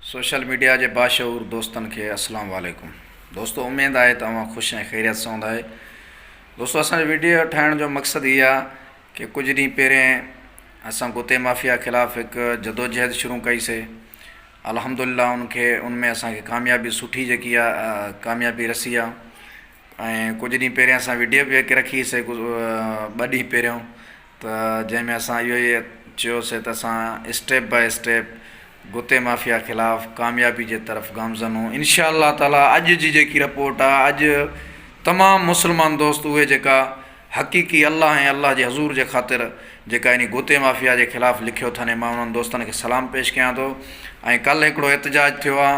Social media جي باشعور دوستن کي اسلام عليڪم دوستو اميد آهي ته اوهان خوش ۽ خيريت سان هوندا اهي دوستو اسان جو ويڊيو ٺاهڻ جو مقصد هي آهي ڪي ڪجهه ڏينهن پهرين اسان ڪتي مافيا خلاف هڪ جدوجهد شروع ڪئي سي الحمدلله ان کي ان ۾ اسان کي ڪاميابي سٺي جيڪي آهي ڪاميابي رسي آهي ۽ ڪجهه ڏينهن پهرين اسان وڊيو به هڪ رکي سي ٻه ڏينهن پهريون ته جنهن ۾ اسان اهو ئي چيو سي ته اسان اسٽيپ باء اسٽيپ گتي مافيا خلاف ڪاميابي جي طرف گامزن هون انشاء الله تعالٰي اڄ جي جيڪي رپورٽ آهي اڄ تمام مسلمان دوست اهي جيڪا حقيقي الله ۽ الله جي حضور جي خاطر جيڪا انهي گوتي مافيا جي خلاف لکيو ٿن مان انهن دوستن کي سلام پيش ڪيان ٿو ۽ ڪلهه هڪڙو احتجاج ٿيو آ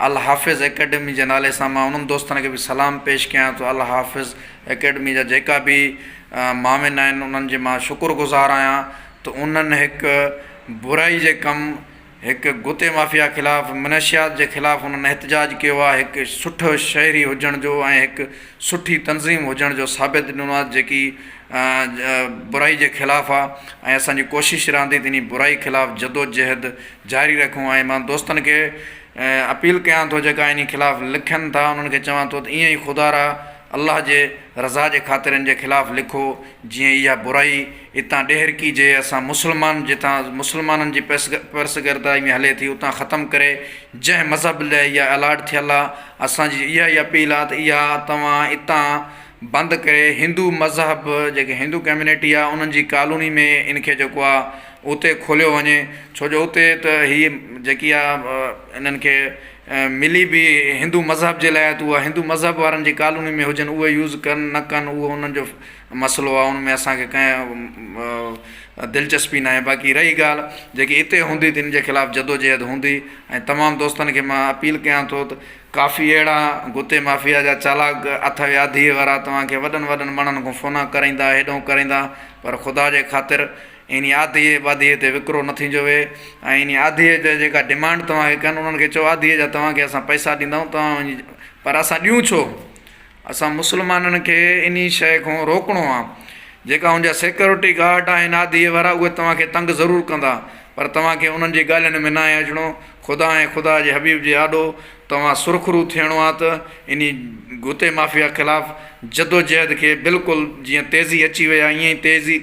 الحافظ اڪيڊمي جي نالي سان مان انهن دوستن کي به سلام پيش ڪيان ٿو الحافظ اڪيڊمي جا جيڪا به معاون آهن انهن جي مان شڪر گذار آهيان ته انهن هڪ برائي جي ڪم هڪ گتي مافيا خلاف منشيات جي خلاف انهن احتجاج ڪيو آهي هڪ سٺو شهري هجڻ جو ۽ هڪ سٺي تنظيم هجڻ جو ثابت ڏنو آهي جيڪي برائي جي خلاف آهي ۽ اسانجي ڪوشش رهندي ته انهي برائي خلاف جدوجهد جاري رکون ۽ مان دوستن کي اپيل ڪيان ٿو جيڪا انهي خلاف لکن ٿا انهن کي چوان ٿو ته ائين ئي خدارا الله جي رضا جي خاطر ان جي خلاف لکو جيئن اها برائي اتان ڏيهرڪي جي اسان مسلمان جتان مسلمانن جي پرسگردائي ۾ هلي ٿي اتان ختم ڪري جنهن مذهب لئه اها الاٽ ٿيل آ اسان جي اها ئي اپيل آ ته اها توهان اتان بند ڪري هندو مذهب جيڪي هندو ڪميونٽي آ انهن جي ڪالوني ۾ ان کي جيڪو آ اتي کوليو وڃي ڇو جو اتي ته هي جيڪي آ انهن کي ملي به هندو مذهب جي لاء ته اها هندو مذهب وارن جي ڪالوني ۾ هجن اهي يوز ڪن نه ڪن اهو انهن جو مسئلو آهي ان ۾ اسانکي ڪنهن دلچسپي ناهي باقي رهي ڳالهه جيڪي اتي هوندي تن جي خلاف جدوجهد هوندي ۽ تمام دوستن کي مان اپيل ڪيان ٿو ته ڪافي اهڙا گتي مافيا جا چالاڪ اٿئي آڌيء وارا توهانکي وڏن وڏن ماڻهن کان فونا ڪرائيندا هيڏهون ڪرائيندا پر خدا جي خاطر انهي آڌيء ٻاڌيء تي وڪرو نه ٿينجو ويهي ۽ انهي آڌيء جا جيڪا ڊمانڊ توهان کي ڪن، انهن کي چئو آڌيء جا توهان کي اسان پئسا ڏيندائون، توهان وڃي پر اسان ڏيون ڇو؟ اسان مسلمانن کي انهي شيء کان روڪڻو آهي. جيڪا هن جا سيڪيورٽي گارڊ آهن آڌيء وارا، اهي توهان کي تنگ ضرور ڪندا، پر توهان کي انهن جي ڳالهين ۾ ناهي اچڻو. خدا ۽ خدا جي حبيب جي آڏو توهان سرخرو ٿيڻو آ ته انهي گوتي مافيا خلاف جدوجهد کي بلڪل جيئن تيزي اچي وئي آ ائين ئي تيزي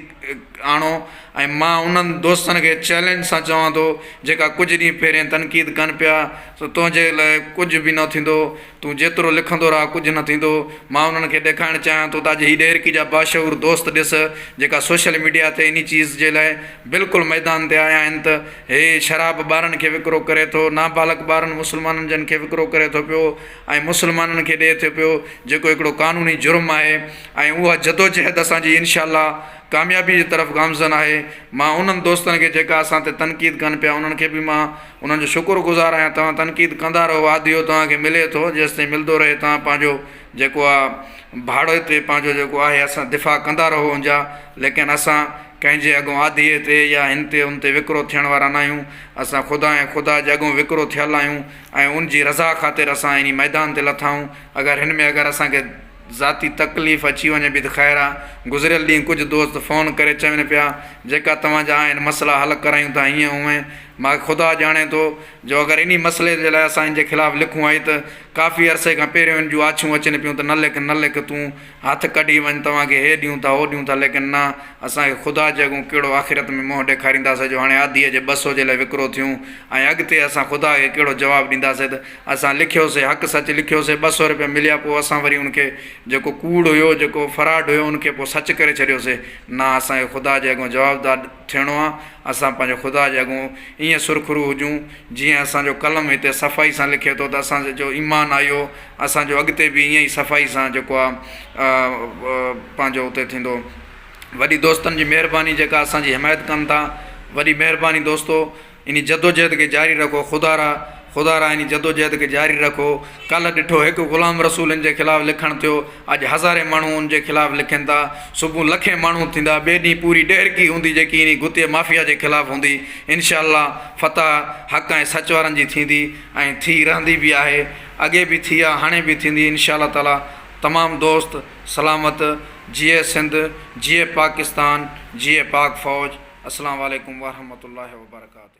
آڻو ۽ مان انهن دوستن کي چئلينج سان چوان ٿو جيڪا ڪجهه ڏينهن پهرين تنقيد ڪن پيا سو تنهنجي لاء ڪجهه به نه ٿيندو تون جيترو لکندو رهه ڪجهه نه ٿيندو مان انهن کي ڏيکارڻ چاهيان ٿو ته اڄ هي ڏهرڪي جا باشعور دوست ڏس جيڪا سوشل ميڊيا تي انهي چيز جي لاء بلڪل ميدان تي آيا آهن ته هي شراب ٻارن کي وڪرو ڪري ٿو، نابالغ ٻارن مسلمانن جن کي وڪرو ڪري ٿو پيو ۽ مسلمانن کي ڏئي ٿو پيو جيڪو هڪڙو قانوني جرم آهي ۽ اها جدوجهد اسان جي انشاء الله ڪاميابي جي طرف گامزن آهي مان انهن دوستن کي جيڪا اسان تي تنقيد ڪن پيا انهن کي به مان انهن جو شڪر گذار آهيان توهان تنقيد ڪندا رهو آڌيو توهان کي ملي ٿو جيستائين ملدو رهي توهان پنهنجو جيڪو آ ڀاڙوئي تي پنهنجو جيڪو آهي اسان دفاع ڪندا رهو انجا ليڪن اسان ڪنهن جي اڳون آڌيء تي يا هن تي ان تي وڪرو ٿيڻ وارا ناهيون اسان خدا ۽ خدا جي اڳون وڪرو ٿيل آهيون ۽ ان جي رضا خاطر اسان انهي ميدان تي لٿائون اگر هن ۾ اگر اسان کي ذاتي تڪليف اچي وڃي به ته خير آ گذريل ڏينهن ڪجهه دوست فون ڪري چون پيا جيڪا توهان جا آهن مسئلا حل ڪرايون ٿا هيئن هونئن ماکي خدا ڄاڻي ٿو جو اگر انهي مسئلي جي لاء اسان هن جي خلاف لکون آهي ته ڪافي عرصي کان پهريون هن جون آڇون اچن پيون ته نه لک نه لک تون هٿ ڪڍي وڃ توهان کي هي ڏيون ٿا هو ڏيون ٿا ليڪن نه اسان کي خدا جي اڳون ڪهڙو آخرت ۾ منهن ڏيکارينداسي جو هاڻي آڌيء جي ٻه سو جي لاء وڪرو ٿيون ۽ اڳتي اسان خدا کي ڪهڙو جواب ڏينداسي ته اسان لکيوسي حق سچ لکيوسي ٻه سو رپيا مليا پوء اسان وري ان کي جيڪو ڪوڙ هيو جيڪو فراڊ هيو ان کي پوء سچ ڪري ڇڏيوسي نه اسان کي خدا جي اڳون جوابدار ٿيڻو آ اسان پنهنجو خدا جي اڳون ائين سرخرو هجون جيئن اسان جو قلم هتي صفائي سان لکي ٿو ته اسان جو ايمان آيو اسان جو اڳتي به ائين ئي صفائي سان جيڪو آ پنهنجو اتي ٿيندو وڏي دوستن جي مهرباني جيڪا اسان جي حمايت ڪن ٿا وڏي مهرباني دوستو انھي جدوجھد کي جاري رکو خدا را خدا را انھي جدوجھد کي جاري رکو ڪلھ ڏٺو ھڪ غلام رسول ان جي خلاف لکڻ ٿيو اڄ ھزارين ماڻھون ان جي خلاف لکين ٿا صبح لکين ماڻھون ٿيندا ٻئي ڏينھن پوري ڏيھرڪي ھوندي جيڪي انھي گتي مافيا جي خلاف ھوندي انشاء الله فتح حق ۽ سچ وارن جي ٿيندي ۽ ٿي رھندي به آھي اڳي به ٿي آ ھاڻي به ٿيندي انشاء الله تعالي تمام دوست سلامت جيئي سنڌ جيئي پاڪستان جيئي پاڪ فوج اسلام عليڪم ورحمة الله وبرڪاته.